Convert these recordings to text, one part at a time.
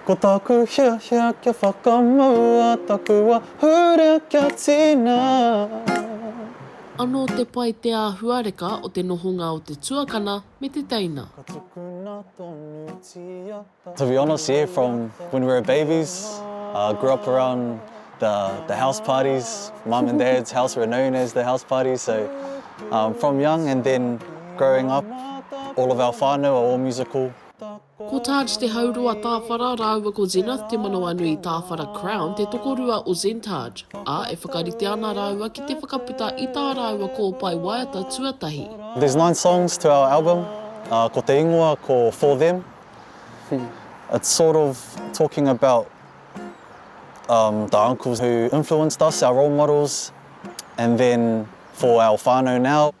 Ko taku hiahia kia whakamaua taku ahurea kia tina. Anō te pai te āhuareka o te nohonga o te tuakana me te teina. Ka tukuna tonutia taku To be honest, yeah, from when we were babies, uh, grew up around the the house parties, mum and dad's house were known as the house parties, so um, from young and then growing up, all of our whānau are all musical, Ko Taj Te Hauroa Tāwhara rāua ko Zenith Te Manawanui Tāwhara Crown te tokorua o Zentaj, ā, e whakarite ana rāua ki te whakaputa i tā rāua kōpae waiata tuatahi. There's nine songs to our album, ko te ingoa ko For Them, it's sort of talking about um the uncles who influenced us, our role models, and then for our whānau now.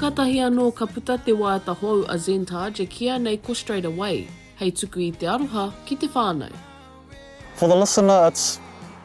Kātahi anō ka puta te waiata hou a Zentage e kīia nei ko Straight Away, hei tuku i te aroha ki te whānau. For the listener it's.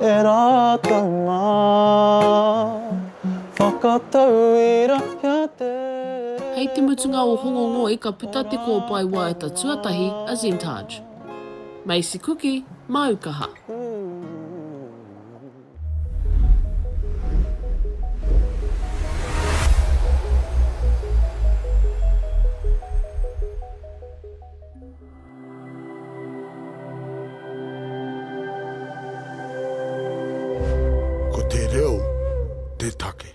e rātou ngā whakatau i rahea te reo. Hei te mutunga o Hongongoi ka puta te kōpae waiata tuatahi a Zentage. Macy Kuki, māu kaha. Ko te reo te take.